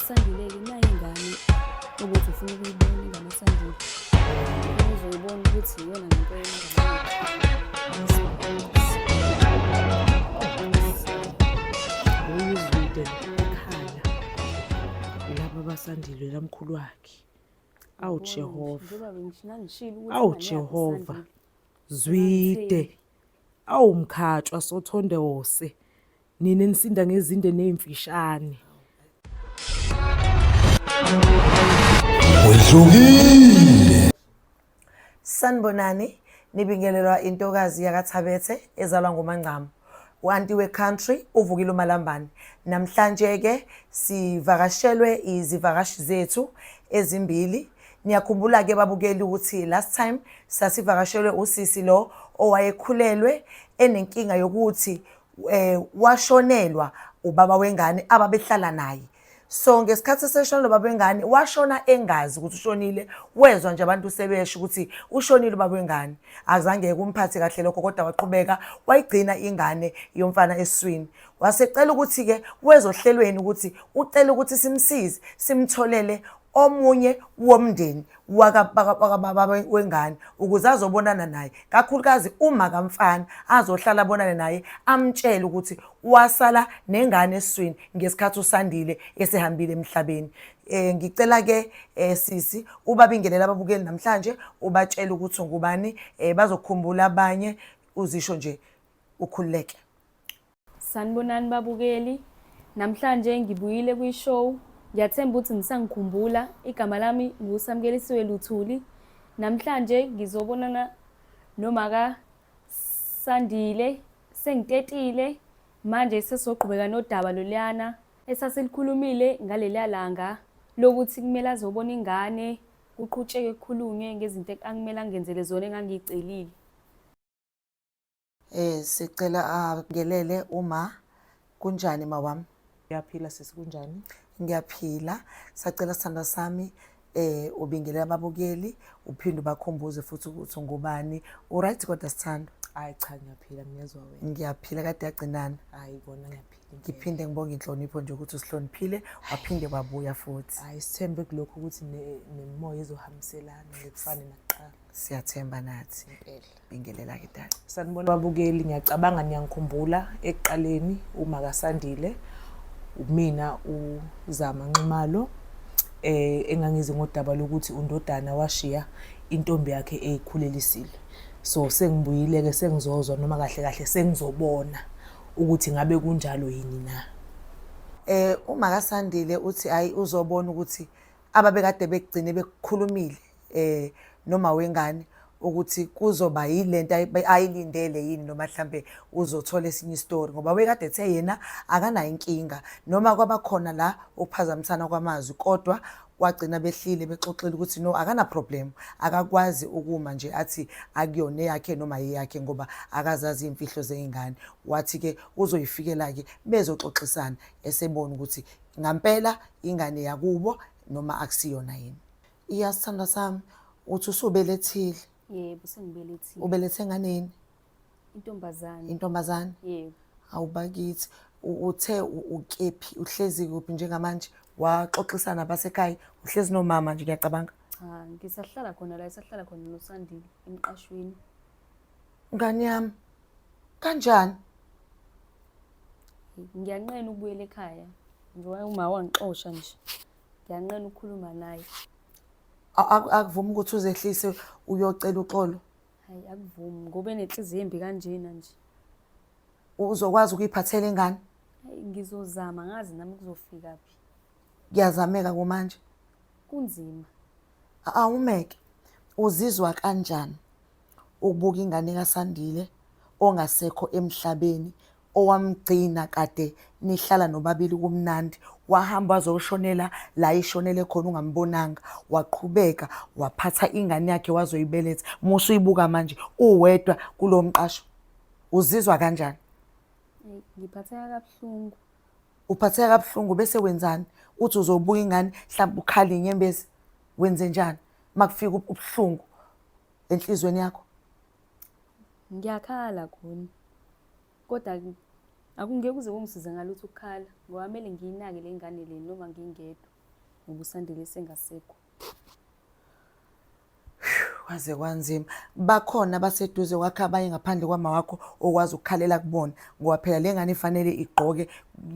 Sandulela nayo ingane ukuthi ufuna ukuyibona ingane Sandulela uzoyibona ukuthi iyona ngempela uyizwide ekhala laba basandile lamkhulu wakhe awu Jehova awu Jehova zwide awu mkhatshwa sothonde wose nina enisinda ngezinde nezimfishane Wedlukile. Sanibonani, nibingelelwa intokazi yakaThabethe ezalwa nguMangcama. Wanti we country uvukile umalambane. Namhlanje ke sivakashelwe izivakashi zethu ezimbili. Niyakhumbula ke babukeli ukuthi last time sasivakashelwe usisi lo owayekhulelwe enenkinga yokuthi eh washonelwa ubaba wengane ababehlala naye so ngesikhathi eseshona lo baba wengane washona engazi ukuthi ushonile wezwa nje abantu sebesho ukuthi ushonile ubaba wengane azange kumphathe kahle lokho kodwa waqhubeka wayigcina ingane yomfana eswini wasecela ukuthi-ke wezohlelweni ukuthi ucela ukuthi simsize simtholele omunye womndeni wakababa wengane ukuze azobonana naye kakhulukazi uma kamfana azohlala abonane naye amtshele ukuthi wasala nengane eswini ngesikhathi usandile esehambile emhlabeni eh ngicela ke eh, sisi ubabingelele ababukeli namhlanje ubatshela ukuthi ngubani eh, bazokhumbula abanye uzisho nje ukhululeke Sanibonani babukeli. Namhlanje ngibuyile kwi-show. Ngiyathemba ukuthi nisangikhumbula. Igama lami nguSamkelisiwe Luthuli. Namhlanje ngizobonana nomaka Sandile. Sengitetile. Manje sesizogqubeka nodaba loluyana esasilikhulumile ngaleliya langa lokuthi kumele azobona ingane kuqhutsheke kukhulunywe ngezinto angimelanga ngenzele zona engangiyicelile. Eh sicela angelele uma kunjani mawami? Ngiyaphila sisi kunjani? Ngiyaphila. Sacela sithandwa sami eh ubingelela ababukeli uphinde ubakhumbuze futhi ukuthi ngubani. Uright kodwa sithandwa? Hayi cha ngiyaphila ngiyezwa wena. Ngiyaphila kade yagcinana. Hayi kona ngiyaphila. Ngiphinde ngibonge inhlonipho nje ukuthi usihloniphile waphinde wabuya futhi. Hayi sithembe kulokho ukuthi nemimoya ezohambiselana ngekufane nakuqala. siyathemba nathi bingelela ke dala sanibona babukeli ngiyacabanga niyangikhumbula ekuqaleni uma kasandile umina uzama nxumalo eh engangizi ngodaba lokuthi undodana washiya intombi yakhe eyikhulelisile so sengibuyile ke sengizozwa noma kahle kahle sengizobona ukuthi ngabe kunjalo yini na eh uma kasandile uthi hayi uzobona ukuthi ababekade bekugcine bekukhulumile eh noma wengane ukuthi kuzoba yilento ayilindele yini noma mhlambe uzothola esinye istory ngoba wekade ethe yena akanayo inkinga noma kwabakhona la ukuphazamisana kwamazwi kodwa wagcina behlile bexoxile ukuthi no akana problem akakwazi ukuma nje athi akuyona eyakhe noma yeyakhe ngoba akazazi imfihlo zeingane wathi ke uzoyifikela ke bezoxoxisana esebona ukuthi ngampela ingane yakubo noma akusiyona yini Iya sithandwa sami uthi usubelethile. Yebo sengibelethile. Ubelethe nganeni? Intombazane. Intombazane. Yebo. Awubakithi uthe ukephi uhlezi kuphi njengamanje waxoxisa nabasekhaya uhlezi nomama nje ngiyacabanga. Cha ngisahlala khona la isahlala khona noSandile emqashweni. Ngani yami kanjani? Ngiyanqena ukubuyela ekhaya njengoba uma wangixosha nje. ngiyanqena ukukhuluma naye akuvumi ukuthi uzehlise uyocela uxolo hayi akuvumi ngoba enenhliziyo embi kanjena nje uzokwazi ukuyiphathela ingane ngizozama ngazi nami kuzofika phi kuyazameka kumanje kunzima awumeke uzizwa kanjani ukubuka ingane kaSandile ongasekho emhlabeni owamgcina kade nihlala nobabili kumnandi wahamba wazoshonela la ishonele khona ungambonanga waqhubeka waphatha ingane yakhe wazoyibeletha musa uyibuka manje uwedwa kulo mqasho uzizwa kanjani ngiphatheka kabuhlungu uphatheka kabuhlungu bese wenzani uthi uzobuka ingane mhlawumbe ukhale inyembezi wenze njani makufika ubuhlungu enhlizweni yakho Ngiyakhala Guni. Kodwa akungeke kuze kungisize ngalutho ukukhala ngoba kumele ngiyinake le ngane le noma ngingedwa ngoba usandile sengasekho. Kwaze kwanzima. Bakhona abaseduze kwakhe abanye ngaphandle kwama wakho okwazi ukukhalela kubona ngoba phela le ngane ifanele igqoke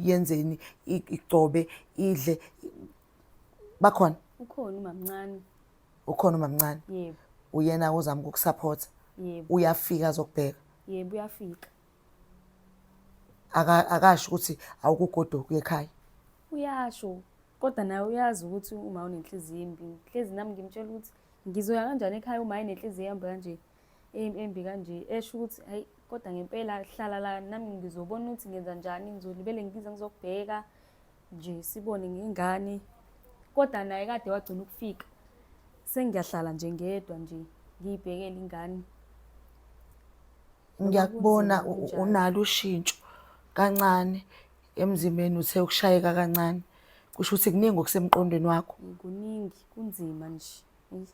yenzeni igcobe idle bakhona. Ukhona umamncane. ukhona umamncane yebo uyena ozama ukukusupport yebo uyafika azokubheka yebo uyafika aka akasho ukuthi awukugodoka ekhaya uyasho kodwa naye uyazi ukuthi uma unenhliziyo embi hlezi nami ngimtshela ukuthi ngizoya kanjani ekhaya uma enenhliziyo ehamba kanje embi kanje esho ukuthi hayi kodwa ngempela hlala la nami ngizobona ukuthi ngenza njani ngizolibele ngize ngizokubheka nje sibone ngengane kodwa naye kade wagcina ukufika sengiyahlala nje ngedwa nje ngiyibhekele ingane ngiyakubona Noma kunzima u- kunjalo. unalo ushintsho kancane emzimbeni uthe ukushayeka kancane kusho ukuthi kuningi okusemqondweni wakho Eh, kuningi kunzima nje Eyi,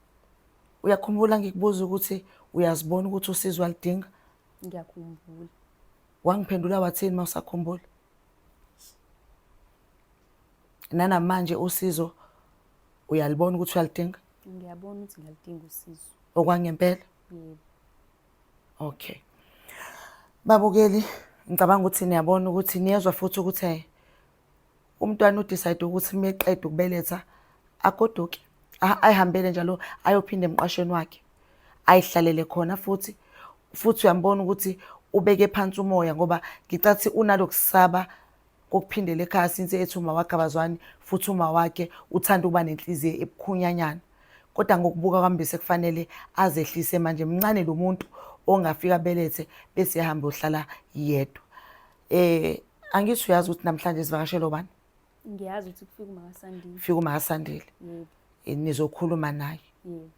uyakhumbula ngikubuza ukuthi uyazibona ukuthi usizwa lidinga ngiyakhumbula wangiphendula wathini uma usakhumbula nanamanje usizo uyalibona ukuthi uyalidinga ngiyabona ukuthi ngiyalidinga usizo okwangempela yebo okay babukeli ngicabanga ukuthi niyabona ukuthi niyezwa futhi ukuthi eh, umntwana udecide ukuthi uma eqeda ukubeletha agoduke ayihambele njalo ayophinde emqashweni wakhe ayihlalele khona futhi futhi uyambona ukuthi ubeke phansi umoya ngoba ngicathi unalokusaba kokuphindela ekhaya since ethi uma wakhe abazwani futhi uma wakhe uthanda ukuba nenhliziyo ebukhunyanyana kodwa ngokubuka kwami bese kufanele azehlise manje mncane lo muntu ongafika belethe bese ehamba ohlala yedwa eh angithi uyazi ukuthi namhlanje sivakashele obani ngiyazi ukuthi kufika umakasandile fika umakasandile yebo eh, nizokhuluma naye yebo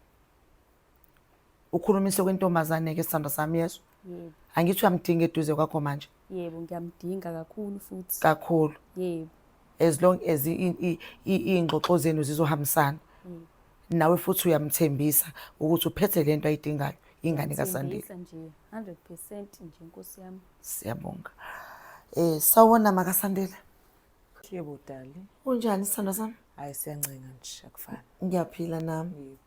ukhulumise kwentombazane ke sithando sami yezwa yebo angithi uyamdinga eduze kwakho manje yebo ngiyamdinga kakhulu futhi kakhulu yebo as long as iy'ngxoxo zenu zizohambisana mm. nawe futhi uyamthembisa ukuthi uphethe le nto ayidingayo ingane kasandile nje 100 percent nje nkosi yami siyabonga um sawona makasandile Yebo dali. Unjani sithando sami? Hayi siyancenga nje akufani. Ngiyaphila nami.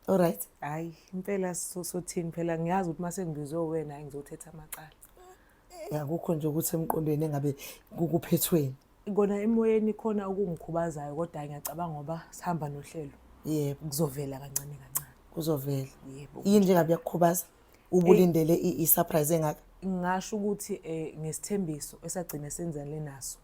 All right. Hayi impela sothini phela ngiyazi ukuthi mase ngibizwe wena ngizothetha amacala. Yakukho nje ukuthi emqondweni engabe kukuphethweni. Kona emoyeni khona okungikhubazayo kodwa ngiyacabanga ngoba sihamba nohlelo. Yebo kuzovela kancane kancane. Kuzovela. Yebo. Yini njengabe yakukhubaza? ubulindele i- i-surprise engaka ngingasho ukuthi eh ngesithembiso esagcina senzale naso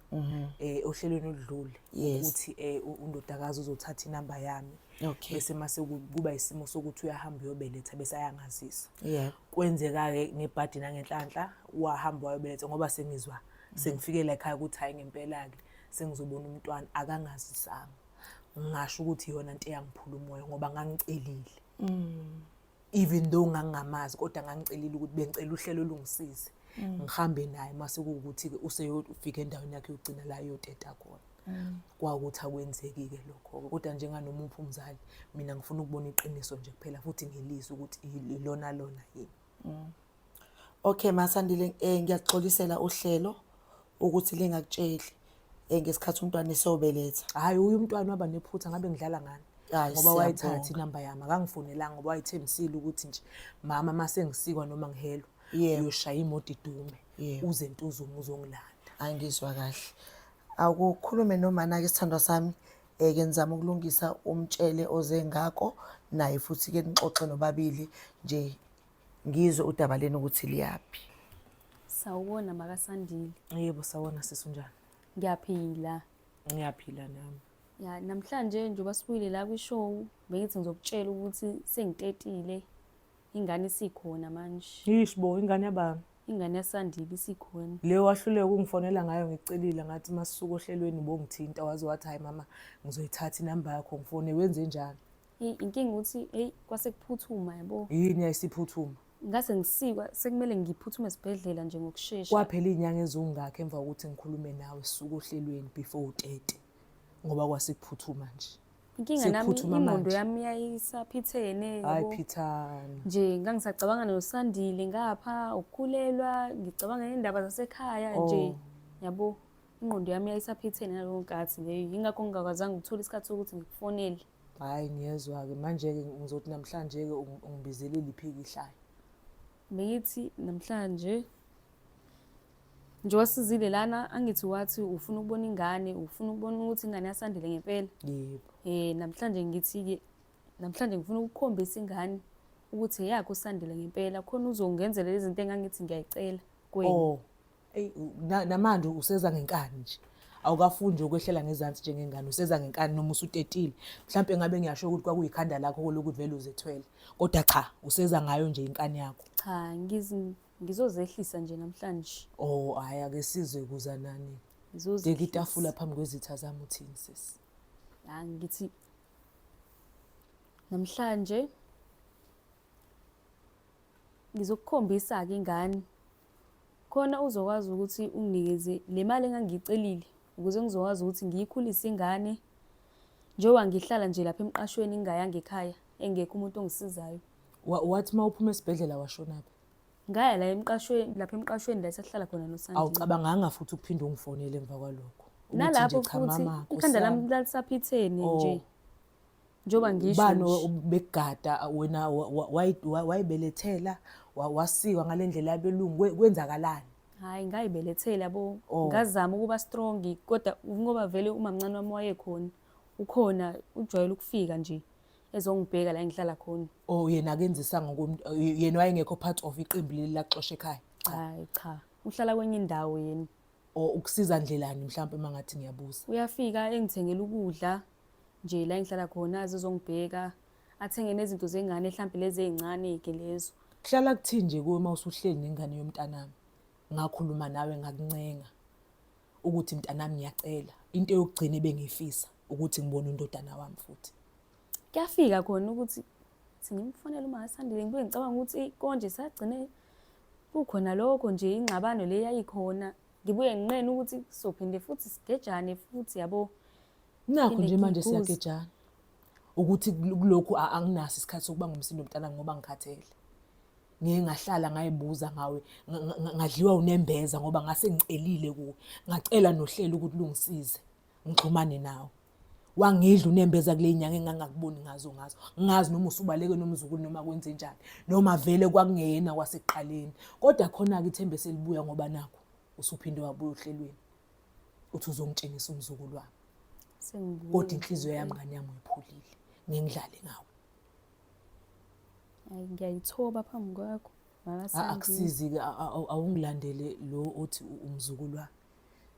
eh ohlelweni oludlule Mhm. Yes. ukuthi eh u- undodakazi uzothatha inamba yami Okay. bese mase ku- kuba isimo sokuthi uyahamba uyobeletha bese ayangazisa yeah kwenzeka ke ngebhadi nangenhlanhla wahamba wayobeletha ngoba sengizwa sengifike la ekhaya ukuthi hayi ngempela ke sengizobona umntwana akangazisanga ngasho ukuthi yona into eyangiphula umoya ngoba ngangicelile even though ngangingamazi kodwa ngangicelile ukuthi bengicela uhlelo olungisize mm. ngihambe naye mase kuwukuthi-ke useyofika endaweni yakhe yokugcina la yoteta khona mm. kwawukuthi akwenzeki-ke lokho-ke kodwa njenganomuphi umzali mina ngifuna ukubona iqiniso nje kuphela futhi ngilizwe ukuthi ilona lona yini mm. Okay Masandile eh ngiyaxolisela uhlelo ukuthi lingakutsheli eh ngesikhathi umntwana esobeletha. Hayi uyu umntwana waba nephutha ngabe ngidlala ngani. Ngoba wayithatha inamba yami akangifonelanga ngoba wayethembisile ukuthi nje mama mase ngisikwa noma ngihelwa uyoshaya imoto idume uze ntuzume uzongilanda. Angizwa kahle. Awukukhulume nomana ke sithandwa sami eh ke nizama ukulungisa umtshele oze ngako naye futhi ke nixoxe nobabili nje ngizwe udaba lenu ukuthi liyaphi sawubona makasandile yebo sawona sisi unjani ngiyaphila ngiyaphila nami ya namhlanje njengoba sibuyile la kwishow bengithi ngizokutshela ukuthi sengitetile ingane isikhona manje yish bo ingane yabani ingane yasandile isikhona leyo wahluleka ukungifonela ngayo ngicelile ngathi masuku ohlelweni bongithinta waze wathi hayi mama ngizoyithatha inamba yakho ngifone wenze njani Eyi inkinga ukuthi eyi kwase kuphuthuma yabo. Yini yayisiphuthuma? Ngase ngisikwa sekumele ngiphuthume esibhedlela nje ngokushesha. Kwaphela iy'nyanga eziwungakho emva kokuthi ngikhulume nawe suka ohlelweni before utete ngoba kwase kuphuthuma nje. Inkinga nami Siphuthuma ingqondo manje. yami yayisaphithene Hayi yabo. phithana. Nje ngangisacabanga nosandile ngapha ukukhulelwa ngicabanga nendaba zasekhaya nje Oh. yabo. Ingqondo yami yayisaphithene ngaleyo nkathi leyo yingakho ngingakwazanga ukuthola isikhathi sokuthi ngikufonele. Hhayi ngiyezwa-ke manje-ke ngizothi namhlanje-ke ungibizele liphiki ihlaya. Beyithi namhlanje nje wasizile lana angithi wathi ufuna ukubona ingane ufuna ukubona ukuthi ingane yasandile ngempela yebo eh namhlanje ngithi-ke namhlanje ngifuna ukukhombisa ingane ukuthi eyakho usandile ngempela khona uzongenzela izinto engangithi ngiyayicela kwena oh. eyi u- na- namanje useza ngenkani nje awukafundi ukwehlela ngezansi njengengane useza ngenkani noma usutetile mhlawumpe ngabe ngiyasho ukuthi kwakuyikhanda lakho lokuthi vele uzethwele kodwa cha useza ngayo nje inkani yakho cha ngiz- ngizozehlisa nje namhlanje o hhayi ake sizwe kuza nani Ngizozehlisa. deka itafula phambi kwezitha zami uthini sisi Ya, ngithi namhlanje ngizokukhombisa-ke ingane Khona uzokwazi ukuthi unginikeze le mali engangiyicelile ukuze ngizokwazi ukuthi ngiyikhulise ingane njengoba ngihlala nje lapha emqashweni ngingayanga ekhaya engekho umuntu ongisizayo. Wathi uma uphuma esibhedlela washonaphi? Ngaya la emqashweni lapha emqashweni la esahlala khona noSandile. Awucabanganga futhi ukuphinde ungifonele emva kwalokho. Nalapho futhi ikhanda lami lalisaphitheni nje. Oh. njengoba ngisho ubani nje. obekugada wena wa- wa- wayi- wa- wayibelethela wa- wasikwa ngale ndlela yabelungu kwe- kwenzakalani hhayi ngayibelethela bo Oh. ngazama ukuba strong kodwa ngoba vele umamncane wami wayekhona ukhona ujwayele ukufika nje ezongibheka la engihlala khona o yena akenzisa ngokomntu yena wayengekho part of iqembu leli laxosha ekhaya cha hayi cha uhlala kwenye indawo yena o ukusiza ndlelani mhlawumpe uma ngathi ngiyabuza uyafika engithengela ukudla nje la engihlala khona azizongibheka athenge nezinto zengane mhlampe lezi ezincane-ke lezo kuhlala kuthini nje kuwe uma usuhleli nengane yomntanami ngakhuluma nawe ngakuncenga ukuthi mntanami ngiyacela into yokugcina ebengiyifisa ukuthi ngibone undodana wami futhi kuyafika khona ukuthi singimfonela uma asandile ngibe ngicabanga ukuthi konje sagcine kukhona lokho nje ingxabano le yayikhona ngibuye nginqene ukuthi sophinde futhi sigejane futhi yabo Nakho nje manje siyagejana ukuthi kulokhu anginaso isikhathi sokuba ngumsindo mntana ngoba ngikhathele. Ngeke ngahlala ngayibuza ngawe ngadliwa unembeza ngoba ngase ngicelile kuwe. Ngacela nohlelo ukuthi lungisize ngixhumane nawe. Wangidla unembeza kule nyanga engangakuboni ngazo ngazo. Ngazi noma usubaleke nomzukulu noma kwenze njani noma vele kwakungeyena kwasekuqaleni. Kodwa khona-ke ithemba eselibuya ngoba nakhu usuphinde wabuya ohlelweni. uthi uzongitshengisa umzukulu wami kodwa inhliziyo yami ngane yami uyiphulile ngengidlale ngawo hayi ngiyayithoba phambi kwakho akusizi-ke awungilandele lo othi umzukulu wami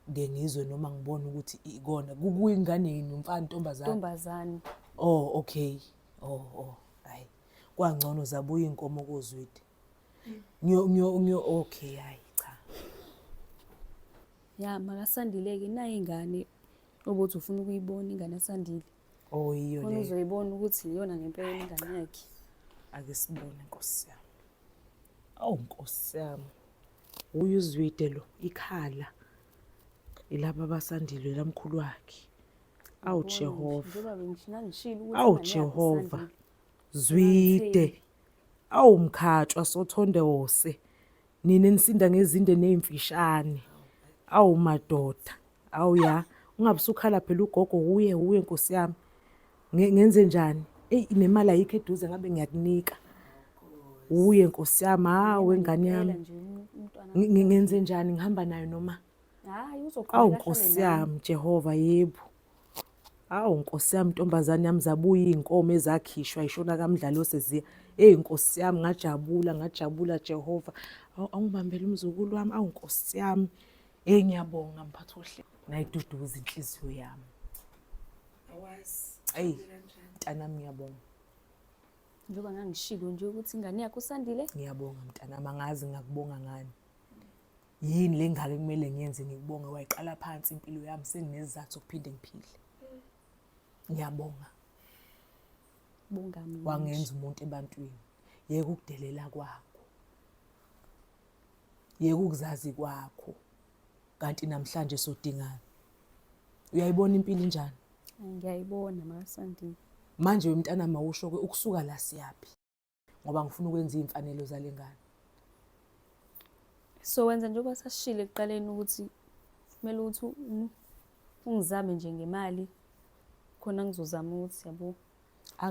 ngeke ngizwe noma ngibone ukuthi ikona kuyingane yini umfana ntombazane ntombazane oh okay oh oh hayi kwangcono zabuya inkomo kozwidi ngiyo ngiyo ngiyo okay hayi cha ya makasandileke naye ingane obuthi ufuna ukuyibona ingane asandile oh yiyo le uzoyibona ukuthi iyona ngempela ingane yakhe ake sibone nkosi yami awu nkosi yami uye uzwide lo ikhala ilaba basandile lamkhulu wakhe awu Jehova awu Jehova zwide Awu mkhatshwa sothondose nina nisinda ngezinde nezimfishane. Awu madoda. Awu ya ungabe usukhala phela ugogo wuye wuye nkosi yami. Nge- Ngenze njani? Ey nemali ayikho eduze ngabe ngiyakunika. Wuye nkosi yami hawe ngane yami. Ngempela nje um- umntwana Ngi- ngi- Ngenze njani ngihamba nayo noma? hayi Awu uzoqhubeka ahlale nkosi nami yami Jehova yebo. Awu nkosi yami ntombazane yami zabuya iy'nkomo ezakhishwa ishona kamdlali oseziya. Eyi nkosi yami ngajabula ngajabula Jehova. Awu awungibambele umzukulu wami awu nkosi yami. Eyi ngiyabonga mphathi ohle. Nayiduduza inhliziyo yami. Awazi. Eyi mntanami ngiyabonga. Njengoba ngangishilo nje ukuthi ingane yakho usandile. Ngiyabonga mntanami angazi ngakubonga ngani. yini le ngaka ekumele ngiyenze ngikubonge wayiqala phansi impilo yami senginesizathu sokuphinde ngiphile ngiyabonga bongami wangenza umuntu ebantwini yeke ukudelela kwakho yeke ukuzazi kwakho kanti namhlanje sodingana uyayibona impilo injani ngiyayibona makasandini manje wemntana mawusho ke ukusuka la siyaphi ngoba ngifuna ukwenza iy'mfanelo zale ngane so wenza njengoba sashile ekuqaleni ukuthi kumele ukuthi ungizame nje ngemali khona ngizozama ukuthi yabo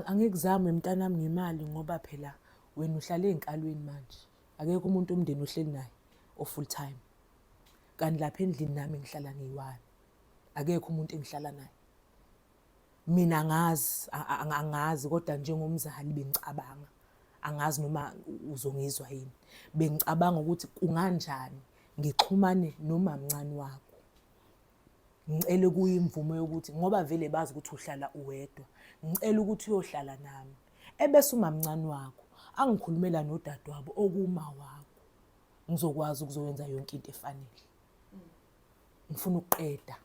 angikuzame mntanami ngemali ngoba phela wena uhlala ey'nkalweni manje akekho umuntu omndeni ohleli naye o-full time kanti lapha endlini nami ngihlala ngiyi-one akekho umuntu engihlala naye Mina angazi angazi kodwa njengomzali bengicabanga angazi noma uzongizwa yini. Bengicabanga ukuthi kunganjani ngixhumane nomamncane wakho. Ngicela kuye imvume yokuthi ngoba vele bazi ukuthi uhlala uwedwa. Ngicela ukuthi uyohlala nami. Ebese umamncane wakho angikhulumela nodadewabo okuma wakho. Ngizokwazi ukuzowenza yonke into efanele. ngifuna ukuqeda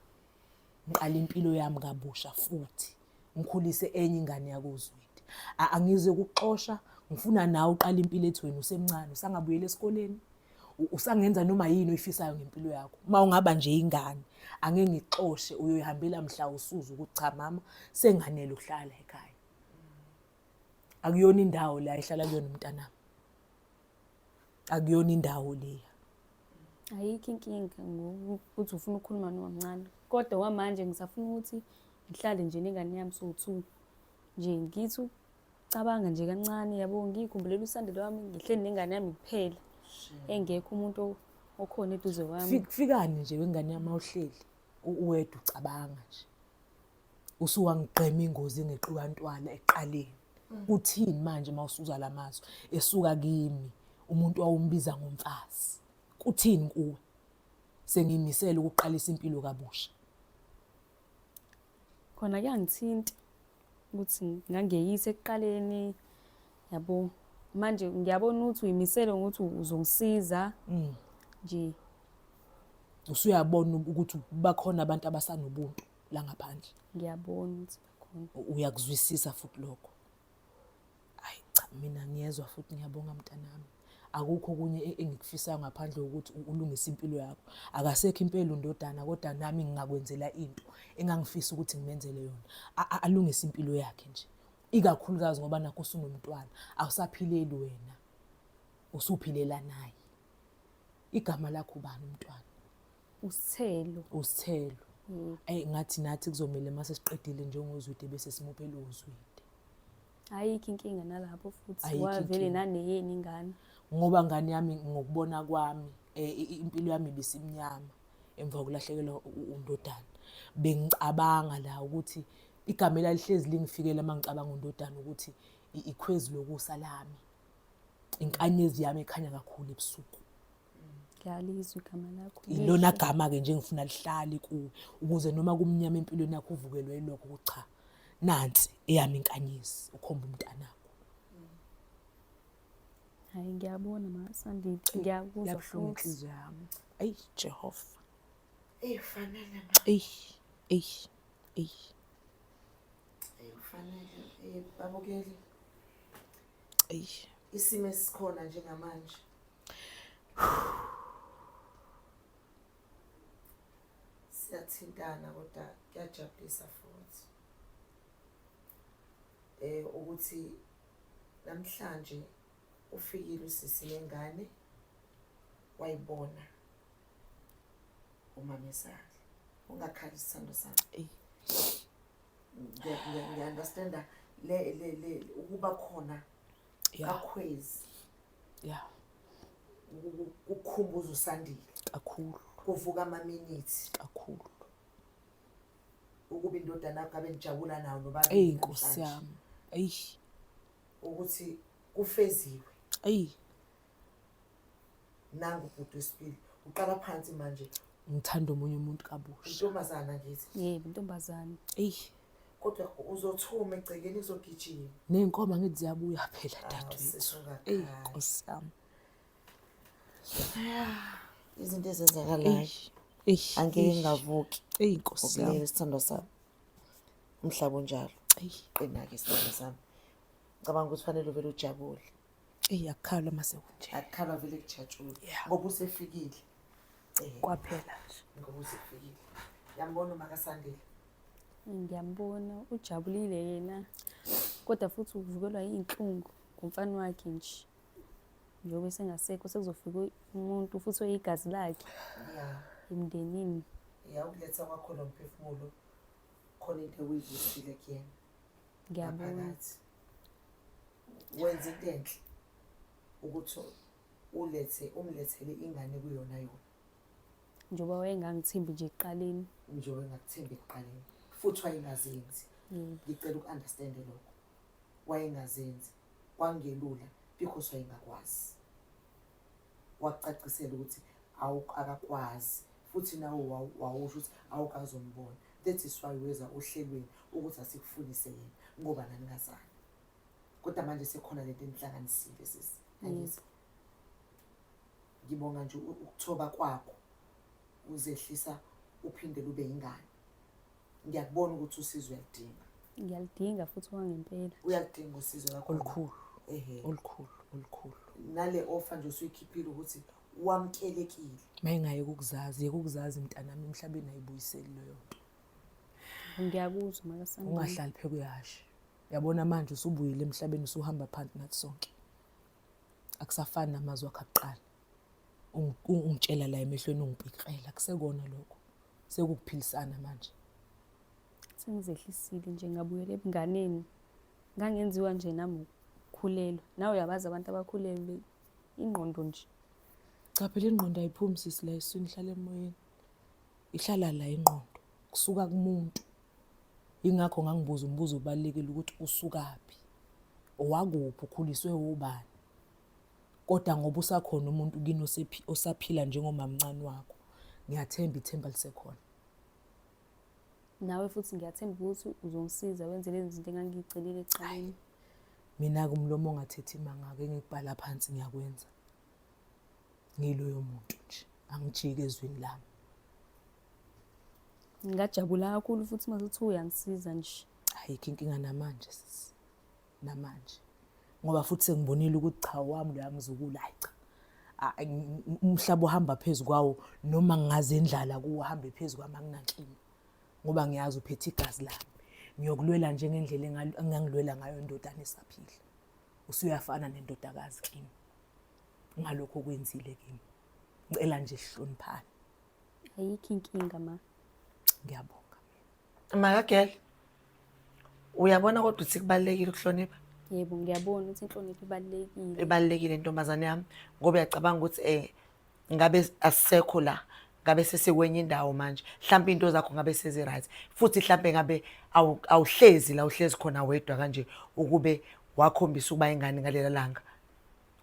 ngiqale impilo yami kabusha futhi ngikhulise enye ingane yakozwidi angizwe kuxosha ngifuna nawe uqale impilo ethi wena usemncane usangabuyela esikoleni usangenza noma yini oyifisayo ngempilo yakho uma ungaba nje ingane ange ngixoshe uyoyihambela mhla usuza ukuthi cha mama senganele ukuhlala ekhaya akuyona indawo la ehlala kuyona umntanami akuyona indawo leya ayikho inkinga ngokuthi ufuna ukukhuluma nomamncane kodwa kwamanje ngisafuna ukuthi ngihlale nje nengane yami sowu-two nje ngithi ukucabanga nje kancane yabo ngiyikhumbulele usandelo wami ngihleli nengane yami kuphela engekho umuntu okhona eduze kwami kufikani nje wengane yami awuhleli uwedwa ucabanga nje usuwangigqema ingozi engexuka ntwana ekuqaleni Mm. uthini manje uma usuza la mazwi esuka kimi umuntu wawumbiza ngomfazi kuthini kuwe sengimisele ukuqalisa impilo kabusha khona kuyangithinta ukuthi ngangeyise ekuqaleni yabo manje ngiyabona ukuthi uyimisele ngokuthi uzongisiza mm. nje usuyabona ukuthi bakhona abantu abasanobuntu la ngaphandle ngiyabona ukuthi uyakuzwisisa futhi lokho hayi cha mina ngiyezwa futhi ngiyabonga mntanami akukho kunye e-, engikufisayo ngaphandle kokuthi ulungise impilo yakho akasekho impela undodana kodwa nami ngingakwenzela into engangifisa ukuthi ngimenzele yona alungise impilo yakhe nje ikakhulukazi ngoba nakho usunomntwana awusaphileli wena usuphilela naye igama lakho ubani umntwana usithelo usithelo mm. ayi ngathi nathi kuzomele mase siqedile njengozwide bese simuphe lo zwide ayikho inkinga nalapho futhi wavele naneyeni ingane ngoba ngane yami ngokubona kwami eh, impilo yami ibisimnyama emva kokulahlekelwa undodana bengicabanga la ukuthi igama elalihlezi lingifikela uma ngicabanga undodana ukuthi ikhwezi lokusa lami inkanyezi yami ekhanya kakhulu ebusuku ngiyalizwa igama lakho ilona gama-ke nje ngifuna lihlale kuwe ukuze noma kumnyama empilweni yakho uvukelwe yilokho ukuthi cha nansi eyami inkanyezi ukhomba umntanakho hayi ngiyabona masandi ngiyakuzwa yabuhlungu inhliziyo yami ayi jehova eyi fanele ma eyi eyi eyi eyi fanele eyi babukeli isimo esikhona njengamanje siyathintana kodwa kuyajabulisa futhi eh ukuthi namhlanje ufikile usisi lengane wayibona umamezakhe ungakhali isithando sami ngiya-understanda ukuba khona kakhwezi ya kukhumbuza usandile kakhulu kuvuka amaminithi kakhulu ukuba indodana yakho abe nijabula nawo nobaba eyi nkosi yami eyi ukuthi kufeziwe eyi nangu ubhuti wesibili uqala phansi manje ngithanda omunye umuntu kabusha intombazana ngithi yebo intombazana eyi kodwa uzothuma egcekeni uzogijima ney'nkomo angithi ziyabuya phela ah, dadewethu eyi nkosi yami izinto ezenzakalayo angeke ngavuki eyi nkosi yami isithandwa sami umhlaba unjalo qina-ke isithandwa sami ngicabanga ukuthi fanele uvele ujabule eyi akukhalwa uma sekunje akukhalwa vele kujatshulwa Yeah. ngoba usefikile Eh, kwaphela nje ngoba usefikile yambona umakasandile ngiyambona ujabulile yena kodwa futhi uvukelwa iy'nhlungu ngumfana wakhe nje njengoba esengasekho sekuzofika umuntu futhi oyigazi lakhe ya emndenini ya ukuletha kwakhona umphefumulo khona into ekuyivusile kuyena ngiyabona ngaphakathi wenze into enhle ukuthi ulethe umlethele ingane kuyona yona njengoba wayengangithembi nje ekuqaleni nje wayengakuthembi ekuqaleni futhi wayengazenzi mm. ngicela uku-understande lokho wayengazenzi kwangelula because wayengakwazi wakucacisela ukuthi akakwazi futhi nawe wawusho ukuthi awukazombona that is why weza ohlelweni ukuthi asikufundise yena ngoba naningazani kodwa manje sekhona lento enihlanganisile sisi angizwa ngibonga nje ukuthoba kwakho uzehlisa uphinde lube ingane ngiyakubona ukuthi usizo uyalidinga ngiyalidinga futhi wangempela uyalidinga usizo lakho olukhulu ehe olukhulu olukhulu nale ofa nje usuyikhiphile ukuthi wamkelekile mayingaye ukukuzazi yekukuzazi mntanami emhlabeni ayibuyiseli leyo nto ngiyakuzwa makasana ungahlali phekuyashe yabona manje usubuyile emhlabeni usuhamba phansi nathi sonke akusafani namazwi akhe akuqala ungitshela la emehlweni ungipikirela kusekona lokho sekukuphilisana manje sengizehlisile nje ngabuyela ebunganeni ngangenziwa nje nami ukukhulelwa nawe uyabazi abantu abakhulelwe ingqondo nje cha phela ingqondo ayiphumi sisi la eswini ihlala emoyeni ihlala la ingqondo kusuka kumuntu Ingakho ngangibuza umbuzo obalulekile ukuthi usukaphi, owakuphi, ukhuliswe obani. Kodwa ngoba usakhona umuntu kini osaphila njengomamncane wakho, ngiyathemba ithemba lisekhona. Nawe futhi ngiyathemba ukuthi uzongisiza wenze lezi zinto engangiyigcinile eceleni. Mina-ke umlomo ongathethi imanga-ke engikubhala phansi ngiyakwenza. Ngiloyo muntu nje, angijiki ezwini lami. ngingajabula kakhulu futhi uma uthi uyangisiza nje ayikho inkinga namanje sisi namanje ngoba futhi sengibonile ukuthi cha wami loya mzukulu hayi cha umhlaba uhamba phezu kwawo noma ngaze indlala kuwo uhambe phezu kwami anginankinga ngoba ngiyazi uphethe igazi lami ngiyokulwela njengendlela engangilwela ngayo indodana esaphila usuyafana nendodakazi kimi ngalokho okwenzile kimi ngicela nje sihloniphane Ayikho inkinga ma. Ngiyabonga. Makagel. Uyabona kodwa ukuthi kubalekile ukuhlonipha? Yebo ngiyabona ukuthi inhlonipho ibalekile. Ibalekile ntombazane yami ngoba uyacabanga ukuthi eh ngabe asisekho la ngabe sesikwenye indawo manje mhlawumbe into zakho ngabe sezi right futhi mhlawumbe ngabe awuhlezi la uhlezi khona wedwa kanje ukube wakhombisa ukuba ingane ngalela langa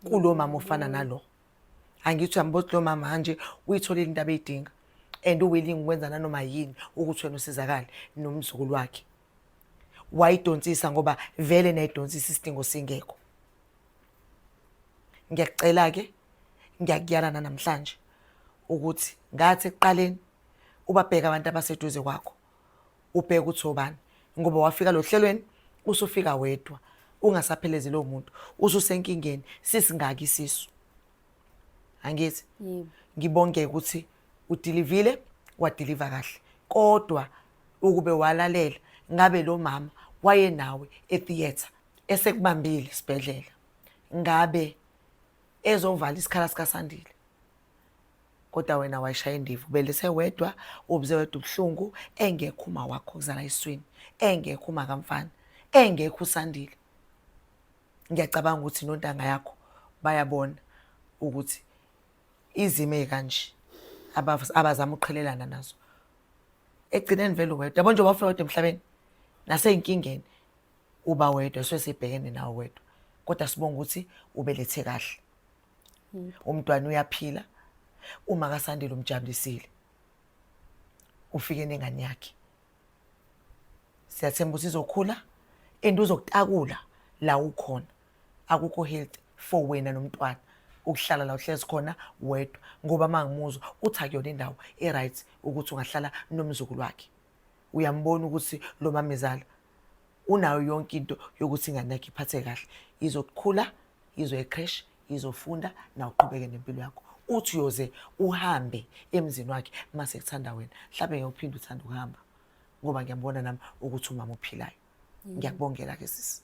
kulo mama ofana nalo angithi uyambuza lo mama manje uyitholile into abeyidinga and uwilling ukwenza nanoma yini ukuthi wena usizakale nomzukulu wakhe wayidonsisa ngoba vele nayidonsisa isidingo singekho ngiyakucela-ke ngiyakuyalana namhlanje ukuthi ngathi ekuqaleni ubabheke abantu abaseduze kwakho ubheke ukuthi obani ngoba wafika lo hlelweni usufika wedwa ungasaphelezi lowo muntu ususenkingeni sisingaki isisu angithi ngibonge ukuthi udilivile wadiliva kahle kodwa ukube walalela ngabe lo mama wayenawe etheatre esekubambile isibhedlela ngabe ezovala isikhala sikasandile kodwa wena wayishaya indiva ubelise wedwa ubuze wedwa ubuhlungu engekho uma wakho kuzala iswini engekho uma kamfana engekho usandile ngiyacabanga ukuthi nontanga yakho bayabona ukuthi izimo ezikanje abazama uqhelelana nazo egcineni vele wedwa yabo nje wafika kodwa emhlabeni naseyinkingeni uba wedwa swesibhekene nawo wedwa kodwa sibonga ukuthi ubelethe kahle umntwana uyaphila uma kasandile umjabulisile ufike nengane yakhe siyathemba ukuthi izokhula and uzokutakula la ukhona akukho health for wena nomntwana ukuhlala la uhlezi khona wedwa ngoba mangimuzwa uthi akuyona indawo e-right ukuthi ungahlala nomzukulu wakhe uyambona ukuthi lo mamezala unayo yonke into yokuthi ingane yakhe iphathe kahle izokhula izoya ecresh izofunda naw uqhubeke nempilo yakho uthi uyoze uhambe emzini wakhe uma sekuthanda wena mhlawumbe ngeke uphinde uthanda ukuhamba ngoba ngiyambona nami ukuthi umama ophilayo ngiyakubongela ke sisi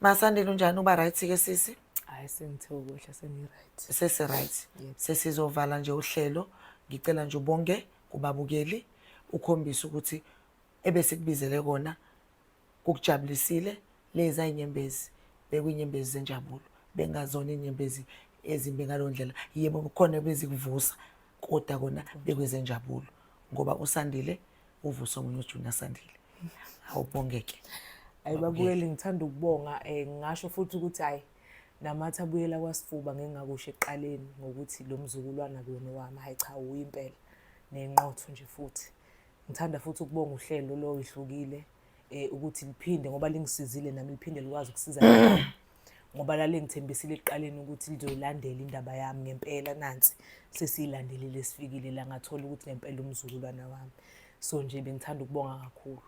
masandile unjani uba right ke sisi hayi sengithe ukudla sengiright sesiright sesizovala nje uhlelo ngicela nje ubonge kubabukeli ukhombise ukuthi ebesikubizele kona kukujabulisile lezi ayinyembezi bekuyinyembezi zenjabulo bengazona inyembezi ezimbi ngaleyo ndlela yebo khona bezikuvusa kodwa kona bekwezenjabulo ngoba usandile uvusa omunye ujunior sandile awubongeke hayi babuyeli ngithanda ukubonga um ngingasho futhi ukuthi hhayi namathi abuyela kwasifuba ngingakusho ekuqaleni ngokuthi lo mzukulwana kuyona owami hhayi cha uyimpela nenqotho nje futhi Ngithanda futhi ukubonga uhlelo lo ihlukile eh ukuthi liphinde ngoba lingisizile nami liphinde likwazi ukusiza ngoba lalengithembisile ekuqaleni ukuthi lizoyilandela indaba yami ngempela nansi sesiyilandelile sifikile la ngathola ukuthi ngempela umzukulwana wami so nje bengithanda ukubonga kakhulu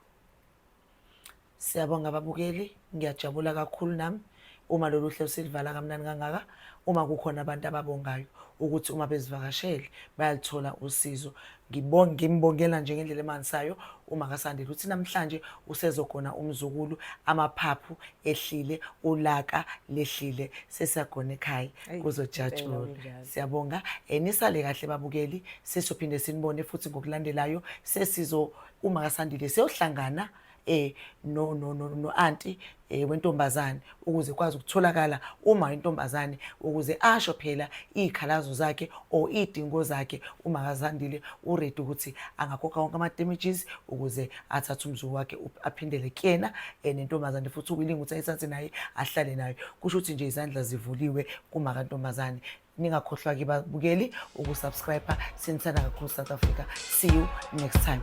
Siyabonga ababukeli, ngiyajabula kakhulu nami uma lolu hlelo silivala kamnani kangaka uma kukhona abantu ababongayo ukuthi uma bezivakashele bayalithola usizo ngimbongela nje ngendlela emanisayo uma kasandile ukuthi namhlanje usezogona umzukulu amaphaphu ehlile ulaka lehlile sesiyagona ekhaya kuzojatshula siyabonga um nisale kahle babukeli sesophinde sinibone futhi ngokulandelayo sesizo uma kasandile seyohlangana eh no no no no auntie eh wentombazane ukuze kwazi ukutholakala uma intombazane ukuze asho phela izikhalazo zakhe or idingo zakhe uma kazandile uready ukuthi angakhokha wonke ama damages ukuze athathe umzuku wakhe aphindele kuyena eh, nentombazane futhi uwilinga ukuthi ayithathe naye ahlale nayo kusho ukuthi nje izandla zivuliwe kuma kantombazane ningakhohlwa ke babukeli ukusubscribe sinithanda kakhulu south africa see you next time